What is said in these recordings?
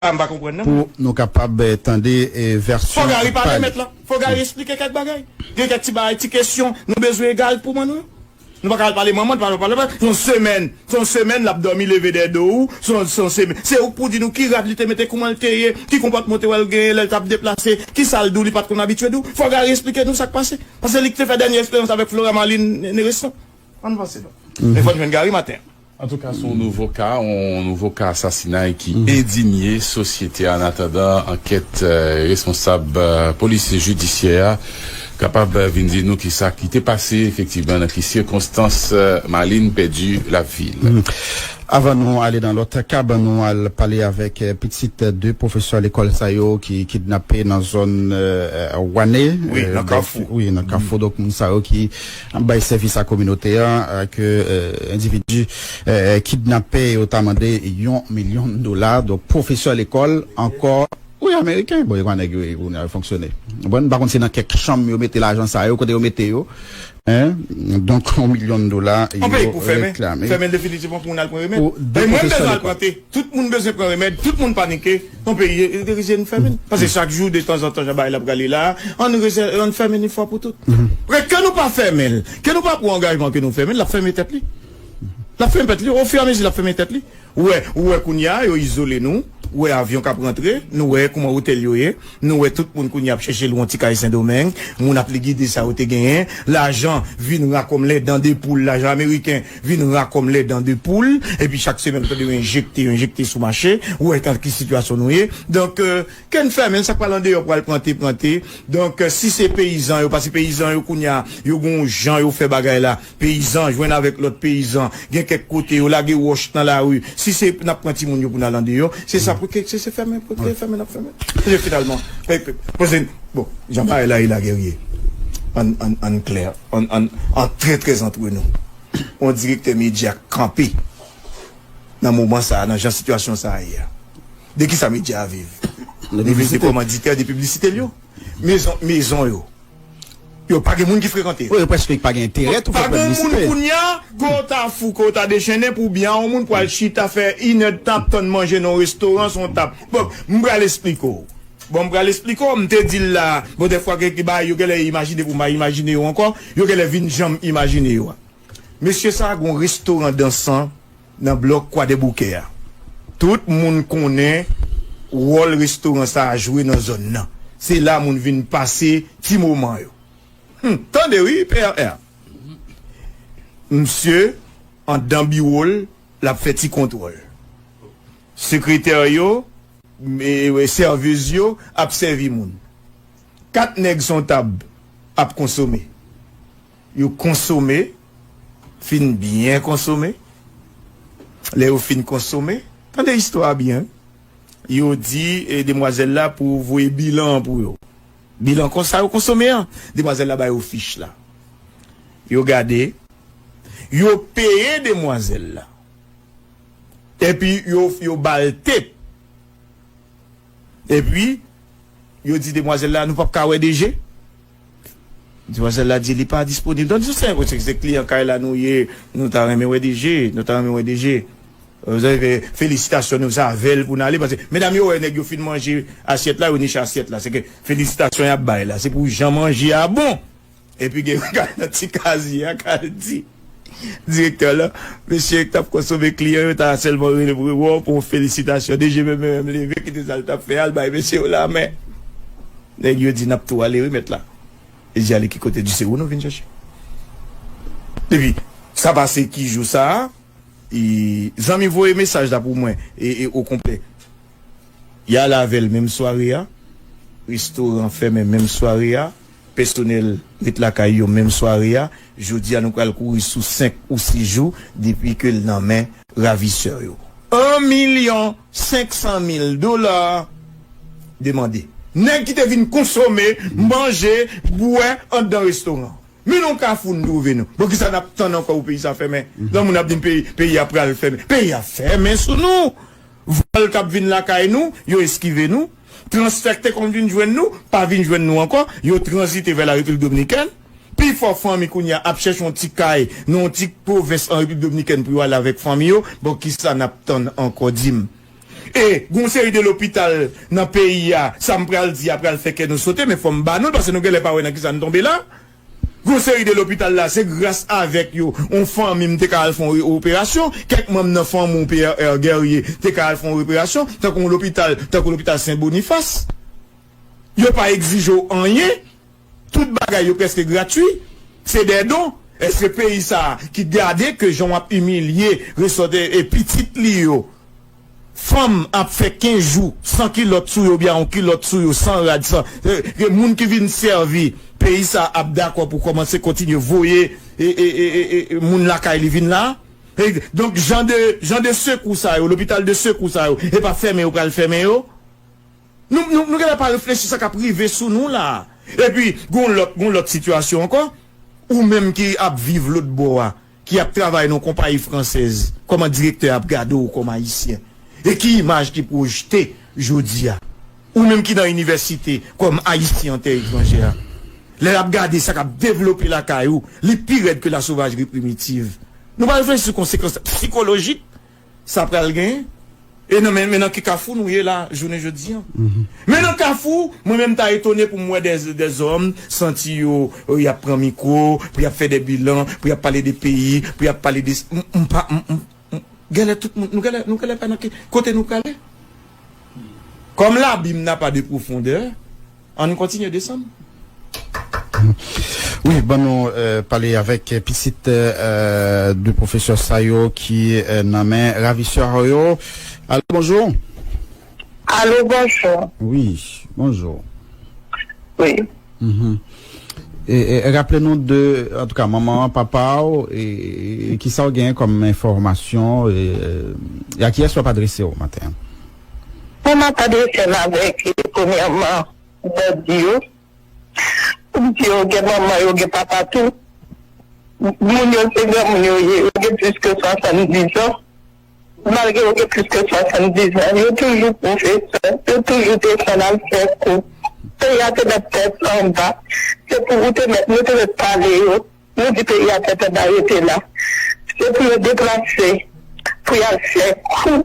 Ah m pa konprann nan mwen. Pou nou kapab tande vèsyon pa li. Fò Gary pale mèt lan. Fò Gary esplike kèk bagay. Gen kèk ti bagay, ti kesyon nou bezwen egal pou manno. Nou pa ka al pale manman l, papa l. Se yon semèn, se yon semèn l ap dòmi leve dèyè do ou. Se yon, se yon semèn. Se ou k pou di nou ki rad li te mete, kouman l te ye, ki konpòtman ou te wè l genyen lè l t ap deplase, ki sa l di w li pa t konn abitye di w. Fò Gary esplike nou sa k pase. Paske se li ki te fè dènye eksperyans avèk Flora Marlin Néresson. An n vanse donk. Men fò n jwenn Gary maten an. Antouka se yon nouvo ka, yon nouvo ka asasinay ki endinye sosyete a annatandan ankèt responsab polis jidisyè a kapab vin di nou kisa ki te pase efektivman, nan ki sikonstans Maline pèdi lavi l. Avan nou ale nan lòt ka, ban nou al pale avèk pitit 2 pwofesè lekòl sa yo ki kidnape nan zòn Wane, nan Kafou, wi nan Kafou, donk moun sa yo ki. bay sèvis a kominote a ke endividi kidnape yo ta mande yon milyon dola donk pwofesè lekòl ankò. Wi ameriken bon yo pa nèg yo ye kounye a yo fonksyone bon m pa konn si nan kèk chanm yo mete lajan sa yo kote yo mete yo men donk yon milyon dola yo reklame pou 2 pwofesè lekòl. Tout moun bezwen pran remèd, tout moun panike, yon peyi rete nou fèmen, pase chak jou de tanzantan jan bagay la prale la a, ann rese ann fèmen n yon fwa pou tout. Paske ke nou pa fèmen l, ke nou pa pran angajman ke nou fèmen l, l ap fèmen tèt li. L ap fèmen tèt li, ofiramezi l ap fèmen tèt li. Ou wè, ou wè kounye a yo izole nou, ou wè avyon k ap rantre, nou wè kouman otèl yo ye, nou wè tout moun kounye a ap chèche lwe yon ti kay Sendomeng, moun ap ligide sa yo te genyen, lajan vin rakomle dan de poul, lajan ameriken. vin ra kòm lè dan de poul epi chak semèn nou tande yo enjekte yo enjekte sou mache ou wè nan ki sitiyasyon nou ye donk kè n fèmen sa k pral andeyò pral pran te pran te donk si se peyizan yo paske peyizan yo kounye a yo gen yon jan yo fè bagay la peyizan jwenn avèk lòt peyizan gen kèk kote yo lage wòch nan lari si se n ap pran timoun yo pou n al andeyò se sa pou kè se fèmen pou kè fèmen n ap fèmen paske finalman bon jan bagay la ye la gè ye ann klè. An trè trè antre nou yon direktè medya kanpe nan moman sa nan jan sitiyasyon sa ye a de kisa medya a viv li viv de kòmanditè de piblisite l yo mezon mezon yo yo pa gen moun ki frekante yo prèske pa gen enterè tou fè piblisite pa gen moun kounya ke w ta fou ke w ta dechennen pou byen a yon moun pwal chita fè inèdtan ap tann manje nan yon restoran se yon tab bon m pral esplike w. Bon m pral esplike w, m te di l la, bon dèfwa gen kèk bagay yo gen lè imajine pou m pa imajine yo ankò, yo gen lè vin jan m imajine yo a. Mesye sa gen yon restoran dansan nan blòk Kwadèboukè a. Tout moun konnen wòl restoran sa a jwe nan zòn nan. Se la moun vin pase ti moman yo. Hum! Tande wi PRR! Msye anndan biwo l, l ap fè ti kontwòl. Sekretè yo, sèvez yo ap sèvi moun. Kat nèg son tab ap konsome. Yo konsome, fin byen konsome. Lè yo fin konsome, tande istwa a byen wi. Yo di demwazèl la pou voye bilan an pou yo. Bilan kon sa yo konsome an. Demwazèl la ba yo fich la. Yo gade, yo peye demwazèl la. Epi yo ba l tape. Epi yo di demwazèl la, nou pap ka wè DG? Demwazèl la di li pa disponib. Donk sou sèn, se kliyan kay la nou ye, nou ta renmen wè DG, nou ta renmen wè DG. Felisitasyon nou save l pou n ale paske medam yo wè nèg yo fin manje asyèt la, yo niche asyèt la. Seke felisitasyon y ap bay la, se pou jan manje a bon. Epi gen yon kay nan ti kaziye a k al di direktè lan, mesye k t ap konsome kliyan yo ta sèlman rele pou yo bon pou yon felisitasyon. DG Meme menm leve kite sa l t ap fè a l bay mesye yo lamen. Nèg yo di n ap tou ale wi mèt la. Li di ale ki kote? L di se ou nou vin chèche. Epi sa pase ki jou sa a e zanmi voye mesaj la pou mwen e okonplè. Y ale avè l menm sware a, restoran fèmen menm sware a. Pèsonèl ret lakay yo menm sware a. Jodi a nou pral kouri sou 5 ou 6 jou depi ke l nan men ravisè yo. 1 milyon 500 mil dola demande. Nèg ki te vin konsome, manje, bwè andan restoran. Men nan kafou nou twouve nou. Bon kisa nap tann ankò pou peyi sa fèmen? Lò moun ap di n peyi peyi a pral fèmen. Peyi a fèmen sou nou. Vòl kap vin lakay nou, yo eskive nou. Transfè k te konn vin jwenn nou, pa vin jwenn nou ankò, yo tranzite vè Larepiblik Dominikèn. Pi fò fanmi kounye a ap chèche yon ti kay nan yon ti pwovens an Repiblik Dominikèn pou yo ale avèk fanmi yo. Bon, ki sa n ap tann ankò, di m? E, gen yon seri de lopital nan peyi a, sa m pral di a pral fè kè nou sote, men fò m ba nou l, pase nou gen lè pa wè nan ki sa n tonbe la. Yon seri de lopital la se gras avèk yo yon fanmi m te ka al fè yon operasyon, kèk manm nan fanmi w PRR Guerrier te ka al fè yon operasyon, tankou yon lopital tankou lopital Sen Bonifas. Yo pa egzije w anyen, tout bagay yo prèske gratwi, se dè don. Èske peyi sa a ki gade ke jan w ap imilye resòt e pitit li yo, Fanm ap fè 15 jou san kilòt sou yo oubyen yon kilòt sou yo san rad san ke moun ki vin sèvi peyi sa ap dakò pou kòmanse kontinye voye moun lakay li vin la donk jan de jan de sekou sa yo lopital de sekou sa yo e pa fèmen yo pral fèmen yo nou nou nou genlè pa reflechi sa kap rive sou nou la epi gon lòt gon lòt sitiyasyon ankò ou menm ki ap viv lotbò a. ki ap travay nan yon konpayi fransèz, kòman direktè a ap gade w kòm Ayisyen? E ki imaj ki pwojte jodi a? Ou menm ki nan inivèsite kòm Ayisyen an tè etranjè a, lè l ap gade sa k ap devlope lakay ou, li pi rèd ke lasovajri primitiv. Nou pa reflechi sou konsekans psikolojik sa pral gen e nan men nan ki kafou nou ye la jounen jodi an. Men nan kafou mwen menm ta etone pou m wè dè dè zòm santi yo y ap pran mikwo pou y ap fè dè bilan, pou y ap pale de peyi, pou y ap pale de si m m pa m m gèlè tout moun nou gèlè nou gèlè pa nan ki kote nou prale? Kòm labim na pa de pwofondè. Ann kontinye desann. Wi ban nou pale avèk pitit 2 pwofesè sa yo ki nan men ravisè yo. Alo bonjou. Alo bonjou. Wi bonjou. Wi. Raple nou de antouka manman an, papa w e kisa w genyen kòm enfòmasyon e a kiyès w ap adrese w maten an. Pou m adrese m avèk premyèman bandi yo pou m di yo gen manman yo gen papa tou moun yo se granmoun yo ye yo gen plis ke 70 ans malgre yo gen plis ke 70 ans yo toujou pwofesè yo toujou te konn al fè kou peyi a te mèt tèt anba se pou ou te mèt nou te mèt pale yo nou di peyi a tèt anba rete la se pou yo deplase pou y al fè kou.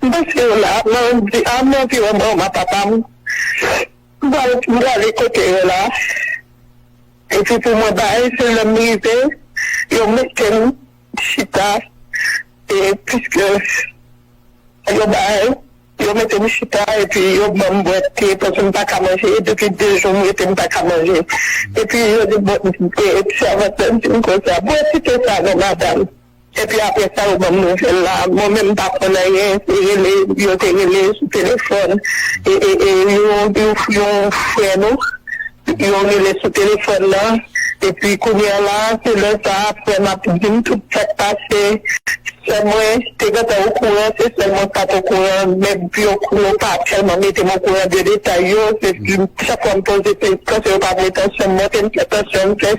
Mesi w la mwen m di a m anvi wè mama papa m m prale kote yo la epi pou mwen bay se lè m rive yo mete m chita e piske yo bay yo mete m chita epi yo ban m bwè te paske m paka manje depi 2 jou m rete m paka manje epi yo di bon sèvant la di m konsa bwè ti te sa non madam. Epi aprè sa yo banm nouvèl la mwen menm m pa konn anyen se rele yo te rele sou telefòn yon frè nou yo rele sou telefòn nan epi kounya la se lè sa frè m ap dim tout sa k pase sè mwen te gentan okouran se sèl mwen k pat okouran men yo pa tèlman mete m okouran de detay yo se chak fwa m poze kesyon se yo pa vle tansyon m monte m fè tansyon m fè.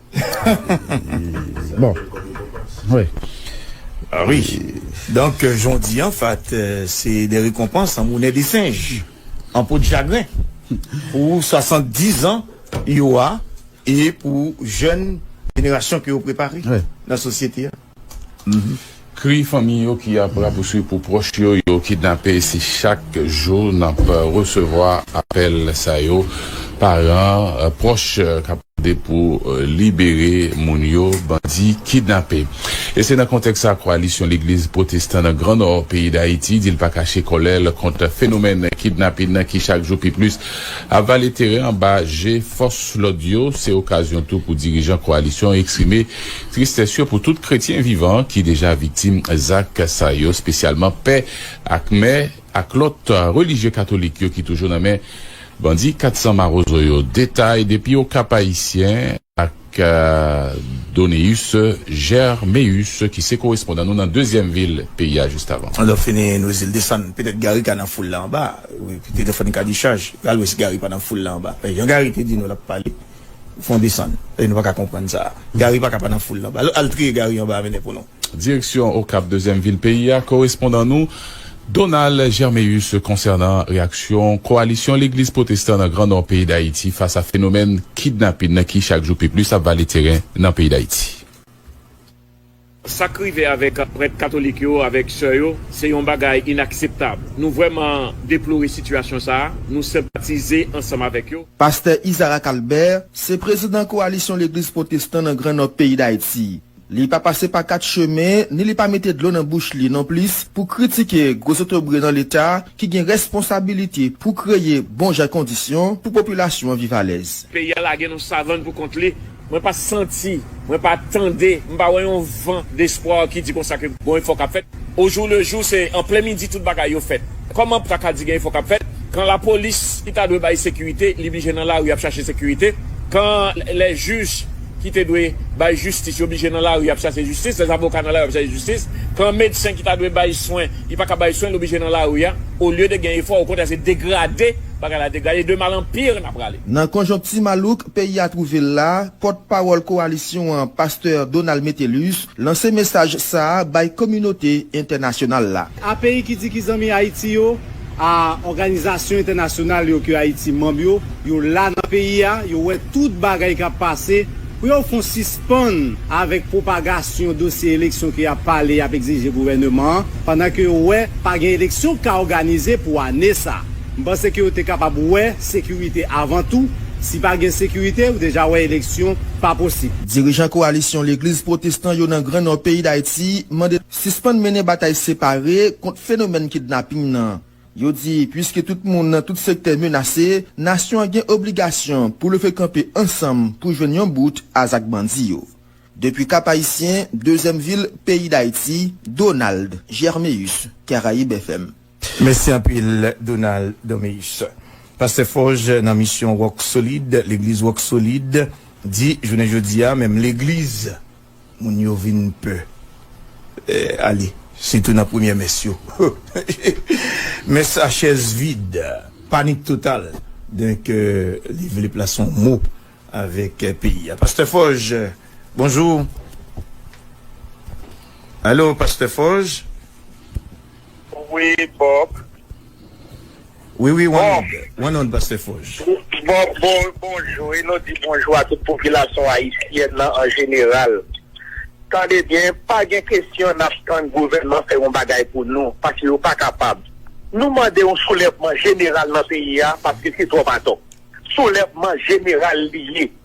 Bon Wi Ah wi Donk jondi an fat se de rekonpans an moune de senj An po de chagren Pou 70 zan yo a E pou jèn jenerasyon ke yo prepare Nan sosyete a. Kri fanmi yo ki ap rapouswiv pou pwòch yo yo kidnape si chak jou n ap resevwa apèl sa yo paran pwòch k ap mande pou libere moun yo bandi kidnape e se nan kontèks sa kwalisyon legliz pwotestan nan gran nò peyi dayiti di l pa kache kòlè l kont fenomèn kidnapin nan ki chak jou pi plis ap vale teren anba je fòs lòd yo se okazyon tou pou dirijan kwalisyon eksprime Tristès yo pou tout kretyen vivan ki deja viktim zak sa yo, spesyalman pè ak mè ak lòt relijye katolik yo ki toujou nan men bandi 400 marozo yo. Detay depi Okap Ayisyen ak Doneus Germéus ki se korespondan nou nan dezyèm vil peyi a just avan. Lè w fini nou di l desann. Petèt Gary ka nan foul la anba. Wi, petèt w fè n kadechaj. Alwès Gary pa nan foul la anba. Jan Gary te di nou l ap pale. Fon desann e nou pa ka konprann sa. Gary pa ka pa nan foul lan. Al triye Gary anba a mennen pou nou. Direksyon Okap, dezyèm vil peyi a, korespondan nou Donald Germéus konsènan reyaksyon kowalisyon legliz pwotestan nan gran nò peyi Dayiti fas a fenomèn kidnapin nan ki chak jou pi plis ap vale teren nan peyi Dayiti. Sa k rive avèk prèt katolik yo avèk sè yo se yon bagay inakseptab. Nou vrèman deplore sitiyasyon sa a, nou senpatize ansanm avèk yo. Pastè Isaac Albert se prezidan kowalisyon legliz pwotestan nan Gran Nò peyi Dayiti. Li pa pase pa kat chemen ni li pa mete dlo nan bouch li nonplis pou kritike gwo zotobre nan leta ki gen responsabilite pou kreye bon jan kondisyon pou popilasyon an viv alèz. Peyi a lage nan savann pou kont li. Mwen pa santi, mwen pa tande, m pa wè yon van despwa ki di konsa ke gon efò k ap fèt. Ojou le jou, se an plen midi tout bagay yo fèt. Kòman pou ta ka di gen efò k ap fèt, kan lapolis ki ta dwe bay sekirite, li blije nan lari ap chache sekirite, kan lè jij ki te dwe bay jistis yo blije nan lari ap chache jistis, lè zavoka nan lari ap chache jistis, kan medsen ki ta dwe bay swen, li pa ka bay swen, l oblije nan lari a. Olye de gen efò, okontrè se degrade bagay la degrade, de mal an pire n ap prale. Nan konjonkti malouk peyi a twouve l la, pòt pawòl kowalisyon an pastè Donald Metellus lanse mesaj sa a bay kominote entènasyonal la. A peyi ki di ki zanmi Ayiti yo, a òganizasyon entènasyonal yo ke Ayiti manb yo, yo la nan peyi a, yo wè tout bagay k ap pase, pou yo fon sispann avèk pwopagasyon dosye eleksyon ke y ap pale y ap egzije gouvèneman an, pandan ke yo wè pa gen eleksyon k ka òganize pou ane sa. M panse ke yo te kapab wè sekirite avan tou, si pa gen sekirite ou deja wè eleksyon pa posib. Dirijan kowalisyon legliz pwotestan yo nan gran nò peyi Dayiti mande sispann mennen batay separe kont fenomèn kidnaping nan. Yo di puiske tout moun nan tout sektè menase, nasyon an gen obligasyon pou leve kanpe ansanm pou jwenn yon bout a zak bandi yo. Depi Kap Ayisyen, dezyèm vil peyi Dayiti, Donald Germéus, Caraibes FM. Mèsi anpil Donald Doméus. Pastè Forge nan misyon Roc Solide, legliz Roc Solide, di jounen jodi a menm legliz moun yo vin pè ale sitou nan premyè mès yo mès a chèz vid, panik total donk li vle plase yon mo avèk peyi a. Pastè Forge bonjou. Alo Pastè Forge. Wi Bob. Wi wi Wanoud, Wanoud Pastè Foj. Bob bonjou e nou di bonjou a tout popilasyon ayisyèn nan an jeneral. Tande byen, pa gen kesyon n ap tann gouvènman fè yon bagay pou nou, paske yo pa kapab. Nou mande yon soulèvman jeneral nan peyi a, paske se twòp atò. Soulèvman jeneral li ye.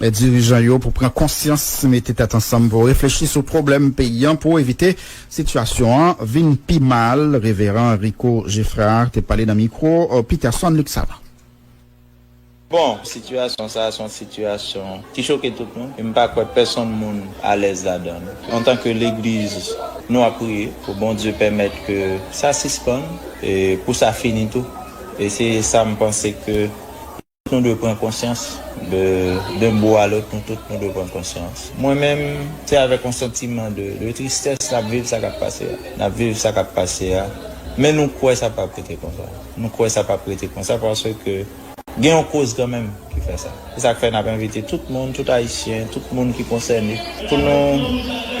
dirijan yo pou pran konsyans, mete tèt ansanm pou reflechi sou pwoblèm peyi an pou evite sitiyasyon an vin pi mal, Reveran Rico Geffrard te pale nan mikwo Peterson Luc Savant. Bon, sitiyasyon sa a se yon sitiyasyon ki choke tout moun e m pa kwè pèsonn moun alèz ladan l. Antanke legliz, nou ap priye pou Bondye pèmèt ke sa sispann e pou sa fini tou e se sa m panse ke. Nou dwe pran konsyans de d'un bout à l'autre, nou tout nou dwe pran konsyans. Mwen menm, se avèk yon santiman de tristès n'ap viv sa k'ap pase a. N'ap viv sa k'ap pase a, men nou kwè sa p'ap rete konsa. Nou kwè sa p'ap rete konsa paske gen yon koz kanmenm ki fè sa. Se sa k' fè n'ap envite tout moun, tout Ayisyen, tout moun ki konsène pou nou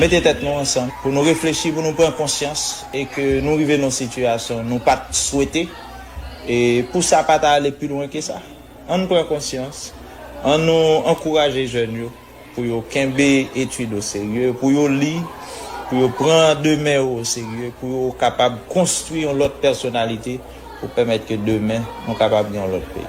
mete tèt nou ansanm, pou nou reflechi, pou nou pran konsyans e ke nou rive nan yon sitiyasyon nou pat swete. E pou sa pa ta ale pi lwen ke sa? An n pran konsyans, an nou ankouraje jèn yo pou yo kenbe etid o serye, pou yo li, pou yo pran demen yo o serye, pou yo kapab konstwi yon lòt pèsonalite pou pèmèt ke demen nou kapab gen yon lòt peyi.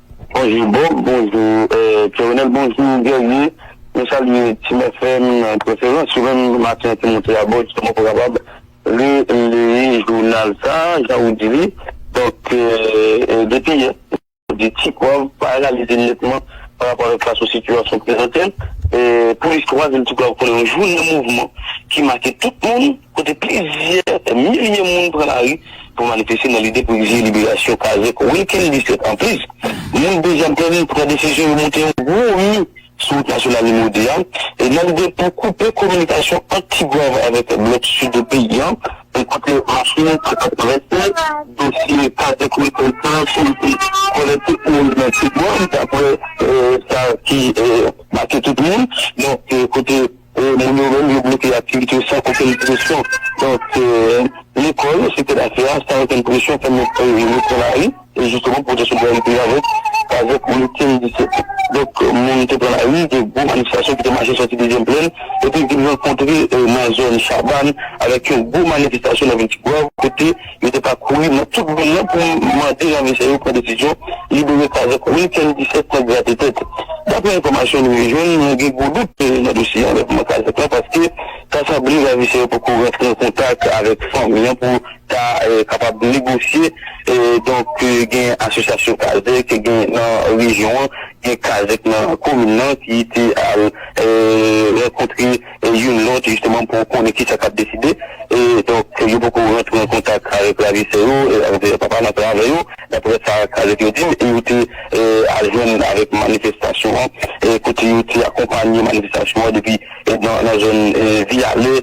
Bonjou Bob, bonjou Kerenel, bonjou Guerrier, mwen salye Team FM an preferans, yo menm maten an te monte abò jiska mwen pa kapab releye jounal sa jan ou di li, donk depi yè ou di Ti Pwav pa reyalize nètman pa rapò avèk fason sitiyasyon prezante l, pou listwa vil Ti Pwav konnen yon jounen mouvman ki make tout moun. kote plizyè milye moun pran lari pou manifeste nan lide pou egzije liberasyon kazèk Wilkens 17 an. Plis moun Dezèplèn pran desizyon yo monte yon gwo mi sou wout nasyonal nimewo 2 a nan lide pou koupe kominikasyon ant Ti Gwav avèk blòk sid peyi an, kote machin ak traktè dosye kazèk Wilkens lan soti kole tout moun nan Ti Gwav daprè sa ki make tout moun. Donk kote. E moun yo menm yo bloke aktivite yo san okenn presyon. Donk, lekòl, sektè dafè a, san okenn presyon fè moun repran lari e jisteman pou pwoteste kont solidite yo avèk meeting 17 out. Donk, moun te pran lari, gen gwo manifestasyon ki te mache sòti Dezyèm Plèn epi vin rankontre nan zòn Chabann avèk yon gwo manifestasyon nan vil Tigwav kote. Yo te pa kouri nan tout vil lan pou mande ravishè yo pran desizyon libere kazèk Wilkens 17 nan grate tèt. Daprè enfòmasyon nou yo jwenn, mwen gen gwo dout nan dosye anlèvman kazèk lan paske ta sanble ravishè yo poko rantre an kontak avèk fanmi an pou ta kapab negosye donk gen asosyasyon kazèk gen nan rejyon an gen kazèk nan komin lan ki te al rankontre youn lòt jisteman pou konnen kisa k ap deside e donk yo poko rantre an kontak avèk ravisè yo avèk papa n ap la avè yo daprè sa kazèk yo di m e yo te al jwenn avèk manifestasyon an kote yo te akonpanye manifestasyon an depi nan zòn viyale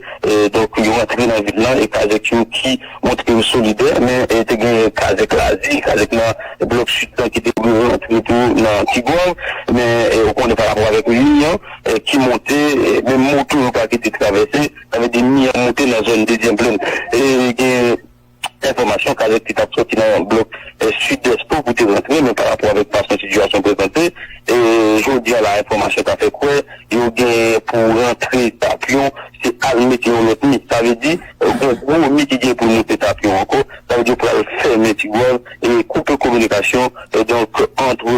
donk yo rantre nan vil lan e kazèk yo ki montre yo solidè men te gen kazèk lazi kazèk nan blòk sid lan ki te vle rantre tou nan tigwav men ou konnen parapò avèk mi an. ki monte menm moto yo pa kite travèse sa vle di mi an monte nan zòn dezyèm plèn e gen enfòmasyon kalèt ki tap sòti nan blòk sidès tou pou te rantre men pa rapò avèk fason sitiyasyon prezante e jodia la enfòmasyon ta fè kwè yo gen pou rantre tap yo se al mete yon lòt mi sa vle di. Gen gwo mi ki gen pou l moute tapyon ankò, sa vle di yo pral fèmen Tigwav e koupe kominikasyon donk antre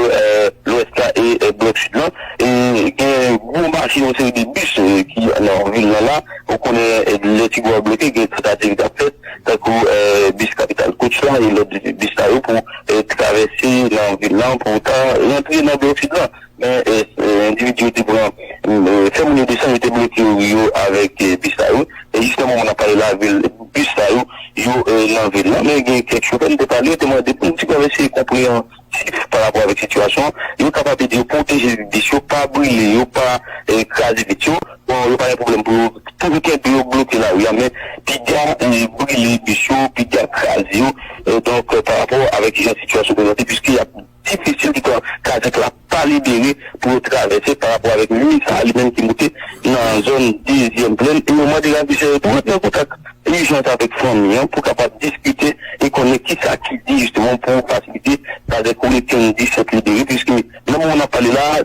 lwès la e blòk sid lan. E gen gwo mache yon seri de bis ki nan vil lan la. Ou konnen lè Tigwav bloke gen tantati ki ap fèt tankou bis Kapital Touch la e lòt bis sa yo pou travèse nan vil lan pou ta rantre nan blòk sid lan. Men endividi yo te pran fè moun yo desann, yo te bloke ri yo avèk bis sa yo. E jis nan moman n ap pale la, bis sa yo, yo nan vil la. Men gen kèk chofè n te pale, yo te mande pou ti pèp eseye konpreyansif pa rapò avèk sitiyasyon an. Yo kapab ede yo pwoteje vit bis yo, pa brile yo, pa kraze vit yo. Bon, yo pa gen pwoblèm pou yo toujou kenbe yo bloke lari a, men piga brile bis yo, piga kraze yo donk pa rapò avèk kijan sitiyasyon prezante piske y ap. Ti fi sitou pran kazèk la pa libere pou yo travèse pa rapò avèk liy sa li menm ki moute nan zòn dezyèm plèn e yo mande ravisè yo tou ret nan kontak ijans avèk fanmi an pou kapab diskite e konnen kisa ki di jisteman pou fasilite kazèk Wilkens 17 libere piske nan moman nap pale la a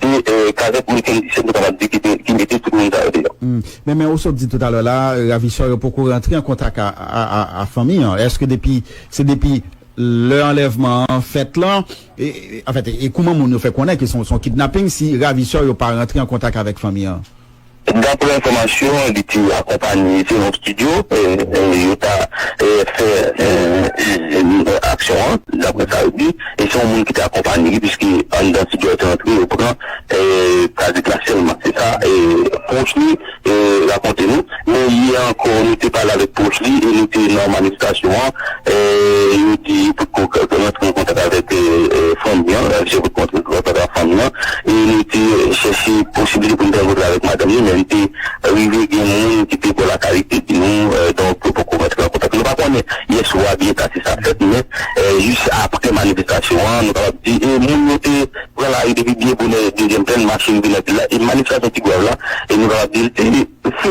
Se kazèk ou mete misye nou kapab di ki mete tout moun sa yo deyò. Men men ou sot di toutalè la ravisè yo poko rantre an kontak a fanmi an eske depi se depi lè anlèvman an fèt lan anfèt e kouman moun yo fè konnen ke son kidnaping si ravisè yo pa rantre an kontak avèk fanmi an? Daprè enfòmasyon li te akonpanye selon studio yo ta fè aksyon an daprè sa yo di e se yon moun ki te akonpanye li puiske anndan studio yo te antre yo pran kazik la sèlman se sa pwòch li rakonte nou men yè ankò nou te pale avèk pwòch li e nou te nan manifestasyon an yo di yo potko rantre an kontak avèk fanmi an e li te chèche posiblite pou li te rankontre avèk madanm li, men li te rive gen moun ki te bò lakay li ki te di nou, donk yo poko rantre nan kontak. Nou pa konnen yèswa byen ta si sa fèt, men jis apre manifestasyon an, nou kapab di e moun yo te pran lari depi byen bonè dezyèm plèn, mache rive nan vil la, e manifestasyon Tigwav la, e nou kapab di l te.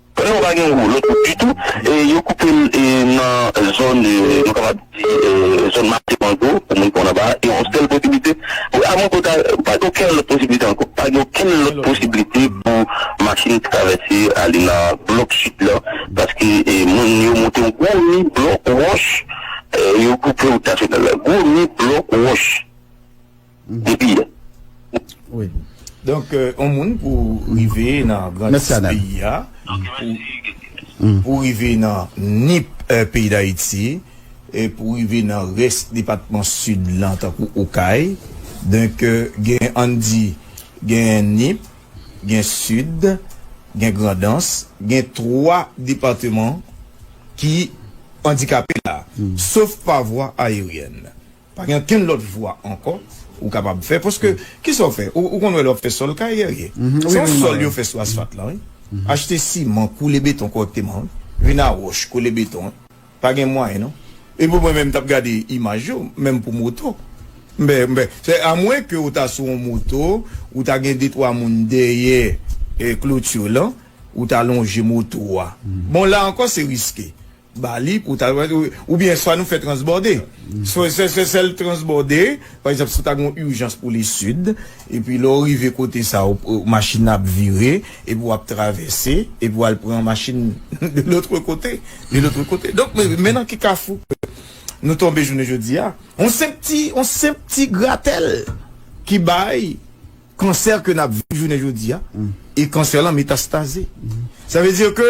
Prèv yo pa gen wou lòt wou ditou e yo koupe l nan zòn nou kapab di zòn mache mango pou moun ki konn anba a e yon sèl posiblite pou a mango ta pa gen okenn lòt posiblite ankò pa gen okenn lòt posiblite pou machin travèse ale nan blòk sid la paske moun yo monte yon gwo mi blòk wòch yo koupe wout nasyonal la gwo mi blòk wòch. depi yè wi. Donk yon moun pou rive nan grandis peyi a pou rive nan nip peyi dayiti pou rive nan rès depatman sid lan tankou okay donk gen ann di gen nip gen sid gen grandans gen 3 depateman ki andikape la sof pa vwa ayeryèn. Pa gen okenn lòt vwa ankò ou kapab fè paske ki sa w fè? Ou konn wè lè w ap fè sòl kay Guerrier? Se yon sòl yo fè sou asfat lan wi. Achte siman, koule beton kòrèkteman wi. Vin a wòch, kole beton wi. Pa gen mwayen non. Epi mwen menm m t ap gade imaj yo, menm pou moto. M bè, m bè. Se a mwen ke ou ta sou yon moto, ou ta gen detwa moun dèyè kloti lan, ou ta lonje moto a. Bon la ankò se riske. Bali pou ta ou byen swa nou fè transbòde swa sè sè sèl transbòde pa egzanp si ta gon ijans pou li sid epi lè ou rive kote sa ou machin nan ap vire epi wap travèse epi wal pran machin de lotre kote de lotre kote donk men nan ki kafou nou tonbe jounen jodi a yon senp ti yon senp ti gratèl ki bay kansè ke nap viv jounen jodi a e kansè lan metastaze sa vle di ke.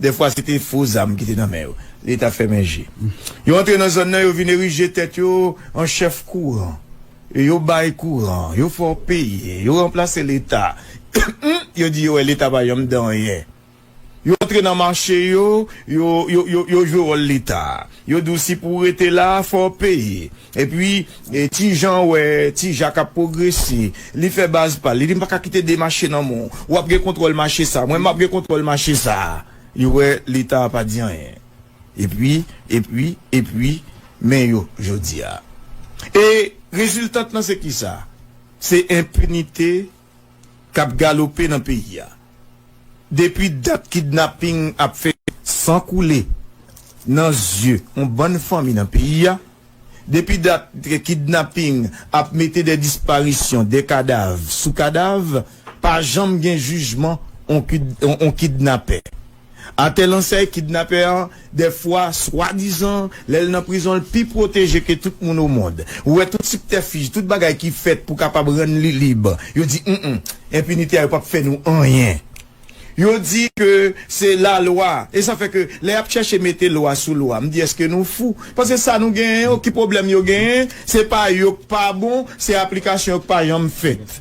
Dèfwa se te fo zam ki te nan men yo. Leta fèmen je. Yo antre nan zòn nan, yo vin erije tèt yo an chèf kouran. Yo bay kouran, yo fè w peye, yo ranplase Leta. Humm! Yo di yo wè Leta pa yanm de anyen. Yo antre nan mache yo, yo jwe wòl Leta. Yo di w si pou w rete la a, fò w peye. Epi, ti Jan wè ti Jak ap pwogrese. Li fè baz pa l. Li di, M pa ka kite de mache nan men w. Ou ap gen kontwòl mache sa a. Mwen, m ap gen kontwòl mache sa a. Li wè Leta a pa di anyen. Epi, epi, epi, men yo jodi a. E reziltant lan se kisa? Se enpinite k ap galope nan peyi a depi dat kidnaping ap fè san koule nan zye yon bann fanmi nan peyi a, depi dat kidnaping ap mete de disparisyon, de kadav sou kadav, pa janm gen jijman yon kidnapè. Atè lan sèy kidnapè an dè fwa swadizan lè l nan prizon l pi pwoteje ke tout moun o mond. Ou wè tout siptèfij, tout bagay ki fèt pou kapab rann li lib. Yo di m-m, enpinite a yo pap fè nou anyen. Yo di ke se lalwa. E sa fè ke lè yap chèche mete lwa sou lwa, m di eske nou fou? Paske sa nou genyen yo, ki pwoblèm yo genyen, se pa yo k pa bon, se aplikasyon yo k pa janm fèt.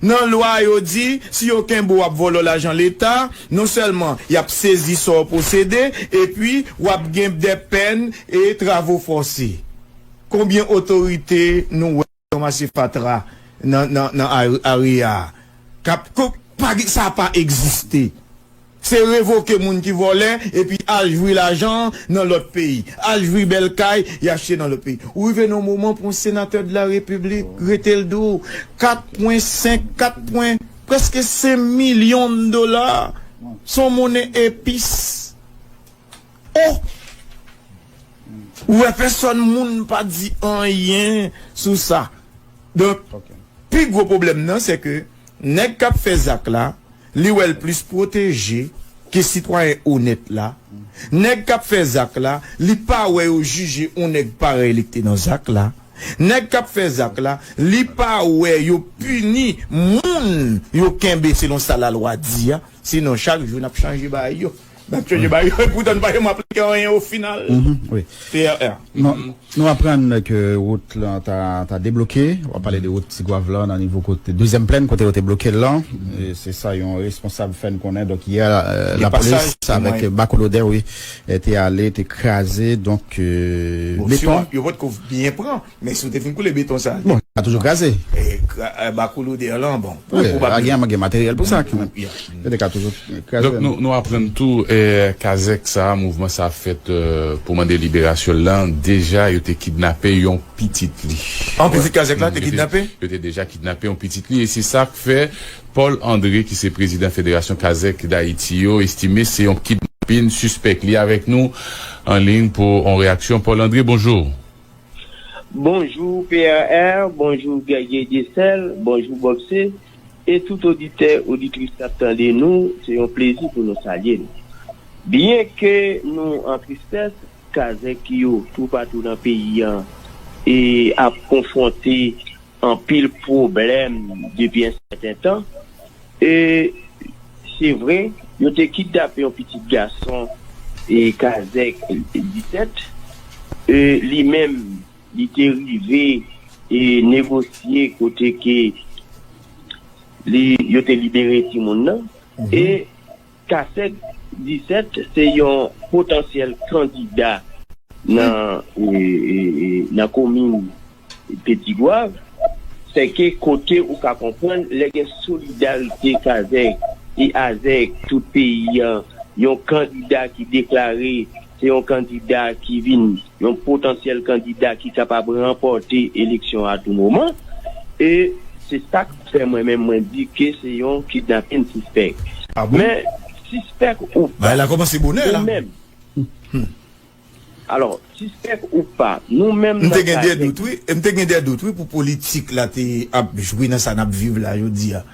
Nan lwa a yo di si yo kenbe w ap vòlò lajan leta, non sèlman y ap sezi sa w posede epi w ap gen dè pèn e travo fòse. Konbyen otorite nou wè ki ranmase fatra nan area a? Sa pa egziste. Se revoke moun ki vòlè epi al jwi lajan an nan lòt peyi, al jwi bèl kay y achte nan lòt peyi. Ou rive nan yon moman pou yon senatè de la repiblik rete l di w 4 pwen 5, 4 pwen, prèske 5 milyon dola se yon monnen epis. Oh! Ou wè pèsòn moun pa di anyen sou sa. Donk, pi gwo pwoblèm nan se ke nèg k ap fè zak la, Li wè l plis pwoteje ke sitwayen onèt la. Nèg kap fè zak la, li pa wè yo jije on nèg parèy li k te nan zak la. Nèg kap fè zak la, li pa wè yo pini moun yo kenbe selon sa lalwa di a. Sinon chak jou nap chanje baay yo. Nap chanje bayo e poutan nou pa janm aplike anyen o final. TRR. Nou aprann ke wout lan ta debloke, wap pale de wout Tigwav lan nan nivo kote dezyèm plèn kote yo te bloke l lan, se sa yon responsab fè n konnen donk yè lapolis avèk bako lodè wi te ale te kraze donk beton. Yo potko byen pran. Men si w te fin koule beton sa. Bon, li ka toujou kraze. E bakoulou deyò lan bon. Wi, a gen materyèl pou sa kanmenm. Yo te ka toujou kraze. Donk nou aprann tou kazèk sa, mouvman sa fèt pou mande liberasyon l lan, deja yo te kidnape yon pitit li. An pitit kazèk la te kidnape? Yo te deja kidnape yon pitit li e se sa k fè Paul André ki se prezidan federasyon kazèk Dayiti yo estime se yon kidnapin sispèk. Li avèk nou an liy pou yon reyaksyon. Paul André, bonjou. Bonjou PRR, bonjou Guerrier Desel, bonjou Bobse e tout oditè, oditris kap tande nou, se yon plezi pou nou salye nou. Byen ke nou an tristès, kazèk yo toupatou nan peyi an e ap konfwonte anpil pwoblèm depi yon sèten tan e se vre yo te kidnape yon pitit gason e kazèk 17 e li menm li te rive e negosye kote ke li yo te libere timoun nan e Kasek 17 se yon potansyèl kandida nan komin Petit-Goâve, se ke kote ou ka konprann lè gen solidarite kazèk e azèk tout peyi an, yon kandida ki deklare. Se yon kandida ki vin yon potansyèl kandida ki kapab ranpòte eleksyon a tou moman. E se sa k fè mwen menm mwen di ke se yon kidnapin sispèk. Men, sispèk ou pa, nou menm, alò, sispèk ou pa, nou menm nan ka gen. M te gen dè dout wi pou politik la te ap jwe nan sa n ap viv la jodi a.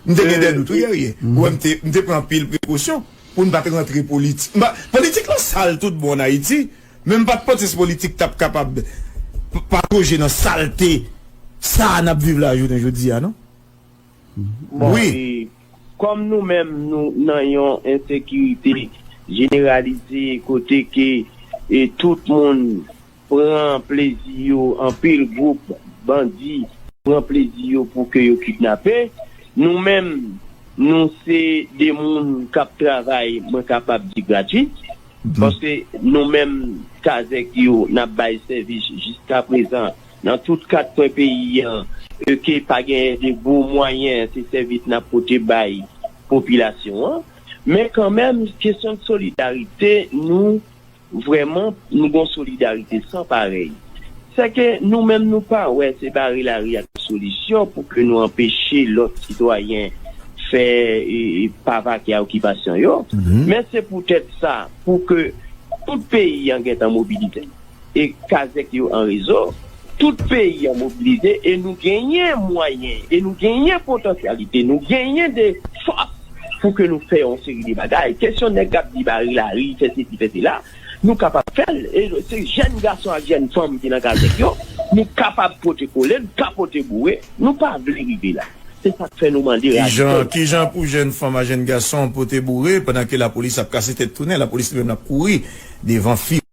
M te gen dè dout wi Guerrier. Ou wè m te pran anpil prekosyon. Pou n pa t rantre politik. M pa, politik lan sal tout bon an Ayiti, men m pa t panse se politik k t ap kapab patoje nan salte sa a n ap viv la jounen jodi a non. Bon, e kòm nou menm nou nan yon ensekirite jeneralize kote ke tout moun Pran plezi yo anpil group bandi pran plezi yo pou ke yo kidnape nou menm nou se de moun kap travay mwen kapab di gratis paske nou menm kazek yo nap bay sèvis jiska prezan nan tout kat kwen peyi an eke pa genyen de gwo mwayen se sèvis nap pote bay popilasyon an men kan menm kesyon solidarite nou Vrèman, nou gon solidarite san parèy. Sèke nou menm nou pa wè se bare lari a ki solisyon pou ke nou anpeche lòt sitwayen fè pa vake a okipasyon yo. Men se pou tèt sa, pou ke tout peyi an gentan mobilize e kazèk yo an rezo, Tout peyi an mobilize e nou genyen mwayen e nou genyen potansyalite, nou genyen de fòs pou ke nou fè yon seri de bagay. Kesyon nèg k ap di bare lari, fè sesi, fè sela, nou kapab fè l. E se jèn gason ak jèn fanm ki nan kazèk yo, nou kapab pote kole, nou ka pote boure. Nou pa vle rive la. Se sa k fè nou mande radikal la. Ki jan pou jèn fanm ak jèn gason pote boure pandan ke lapolis ap kase tèt tounen, lapolis li menm l ap kouri devan fi.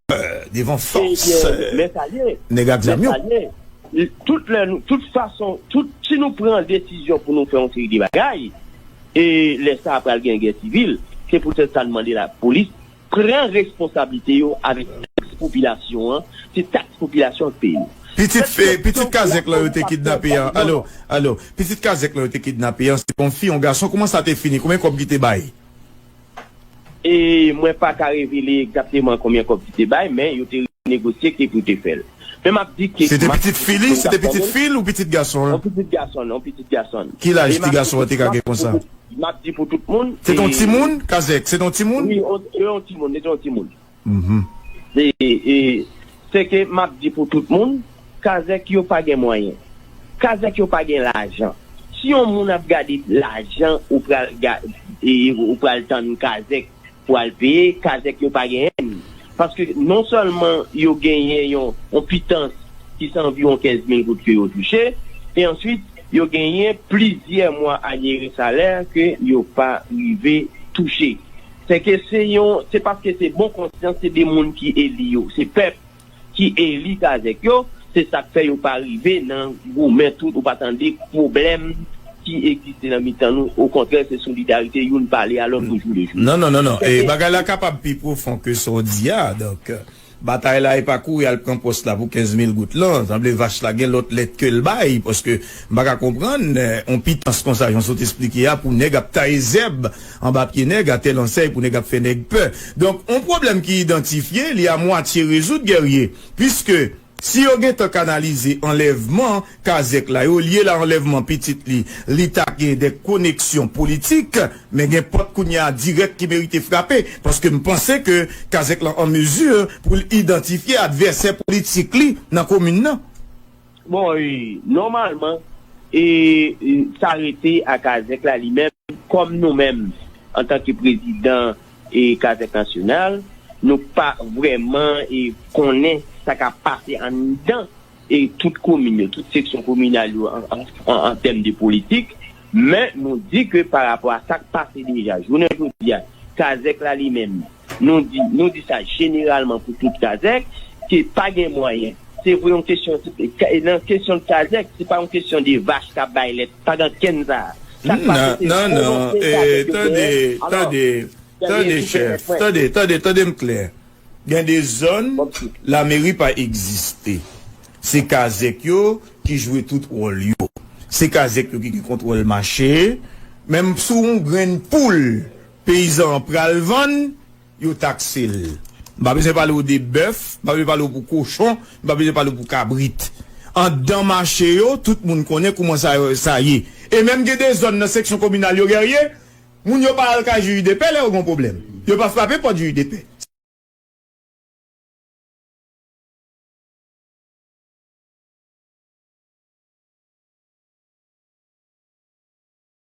devan fòs nèg ak zam yo. Tout lè nou, tout fason, tout, si nou pran desizyon pou nou fè yon seri de bagay, e lè sa a pral gen gè sivil, se poutèt sa nou mande lapolis pran responsablite yo avèk taks popilasyon an, se taks popilasyon an k peye yo. Pitit pitit kazèk lan yo te kidnape an, alo, alo, pitit kazèk lan yo te kidnape an, se te yon fi, yon gason, kouman sa te fini, konbyen kòb ki te bay? E mwen pa ka revele egzakteman konbyen kòb li te bay, men yo te renegosye ki pou te fè l. Men m ap di ke. Se te pitit fi li? Se te pitit fi l ou pitit gason l? On pitit gason l, on pitit gason l. Ki laj ti gason an te ka gen konsa? M ap di pou tout moun. Se te on timoun, Kazèk? Se te on timoun? Wi, se te on timoun, se te on timoun. Se ke map di pou tout moun, kazèk yo pa gen mwayen. Kazèk yo pa gen lajan. Si yon moun ap gade lajan ou pral ou pral tann kazèk pou al peye, kazèk yo pa genyen ni. Paske non sèlman yo genyen yon pitans ki se anviwon 15 mil goud ke yo touche, e answit yo genyen plizyè mwa anyere salè ke yo pa rive touche. Sèke se yon, se paske se bon konsyans se 2 moun ki eli yo, se pèp ki eli kazèk yo, se sak fè yo pa rive nan goumen tout ou pa tande pwoblèm ki egziste nan mitan nou, okontrè se solidarite youn pale a lòt ojou le jou. Non non non non, bagay la kapab pi pwofon ke sa w di a, donk. Batay la epa kouri al pran pòs la pou 15 mil goud lan, sanble vach la gen lòt lèt kel bay paske m paka konprann on pitans konsa jan sot esplike a pou nèg ap taye zèb anba pye nèg a tèl ansèy pou nèg ap fè nèg pè donk on pwoblèm ki idantifye li a mwatye rezoud Guerrier piske si yo gentan kanalize anlèvman Kazèk la yo lye la anlèvman pitit li li ta gen de koneksyon politik men gen pòt kounye a dirèk ki merite frape paske m panse ke kazèk lan an mezi pou l idantifye advèsè politik li nan komin nan. Bon nòmalman e sa rete a kazèk la li menm kòm nou menm antanke prezidan e kazèk nasyonal nou pa vrèman e konnen sa k ap pase anndan e tout komin yo, tout seksyon kominal yo an tèm de politik, men nou di ke pa rapò a sa k pase deja jounen jodi a, kazèk la li menm, nou di, nou di sa jeneralman pou tout kazèk, ke pa gen mwayen. Se vre yon kesyon, nan kesyon de kazèk, se pa yon kesyon de vach k ap bay lèt, pa gen kenn sa a. Sa k pase se volonte kazèk yo genyen. Non, non, tande, tande, tande chèf, tande, tande, tande m klè. Gen de zòn, lameri pa egziste. Se kazèk yo ki jwe tout wòl yo. Se kazèk yo ki gen kontwòl mache. Menm sou yon grenn poul peyizan an pral vann, yo takse l. M pa bezwen pale w de bèf, m pa bezwen pale w pou kochon, m pa bezwen pale w pou kabrit. Anndan mache yo, tout moun konnen kouman sa ye. E menm gen de zòn nan seksyon kominal yo, Guerrier, Moun yo pa al kay juj de pè lè yo gon pwoblèm. Yo pa frape pòt juj de pè.